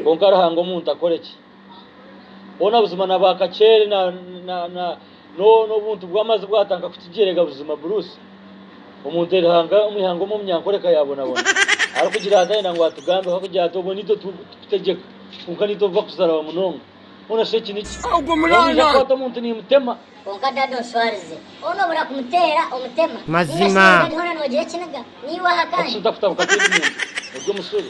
Kwonka Ruhanga omuntu akore ki? Boona buzima na ba Kacheere na, na, na, no, n'obuntu bw'amazi bwatanka kukigyerega buzima Bruce. Omuntu eri hanga, omu ihanga omu omunyankoreka yaabonabona. Arikugira ati, Ayenda ngu atugambeho, akugira ati, Obwo niitwe turikukutegyeka, kwonka niitwe obu bakuzarawa munonga. Hoona shi eki niki? Hoona naija kukwata omuntu niimutema. Kwonka Dad onshwarize. Hoona obura kumutera omutema. Mazima. Ninga shi Dad hoona noogira ekiniga? Niiwe aha Ati, kandi. Shi otakutabuka tindi muntu, ori omushube.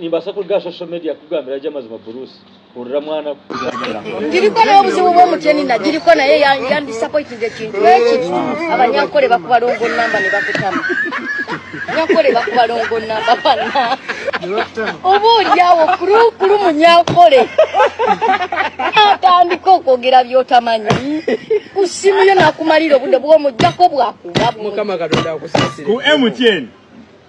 Nimbaasa kuruga aha social media kukugambira gye amazima Bruce. Hurira mwana ku. Tiriko n'obuzibu bw'omugyeni na Tiriko naye yandisappointinze ekintu eki abanyankore bakubalongo namba nibakutamu. Abanyankore bakubalongo namba bana. Oba oryawo kuri kuri munyankore natandika okwogera by'otamanyi ku simu yo nakumarira obude bw'omugyako bwakuba bubi. Ku MTN.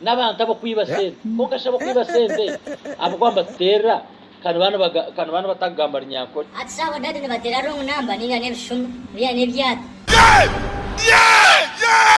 N'abantu ab'okwiba sente. Kwonka shi ab'okwiba sente abo ku batuteerera ka nibaba nibatakugamba Runyankore? Hati shi abadadi nibateera wrong number ninga n'ebishumo, byaine ebyata?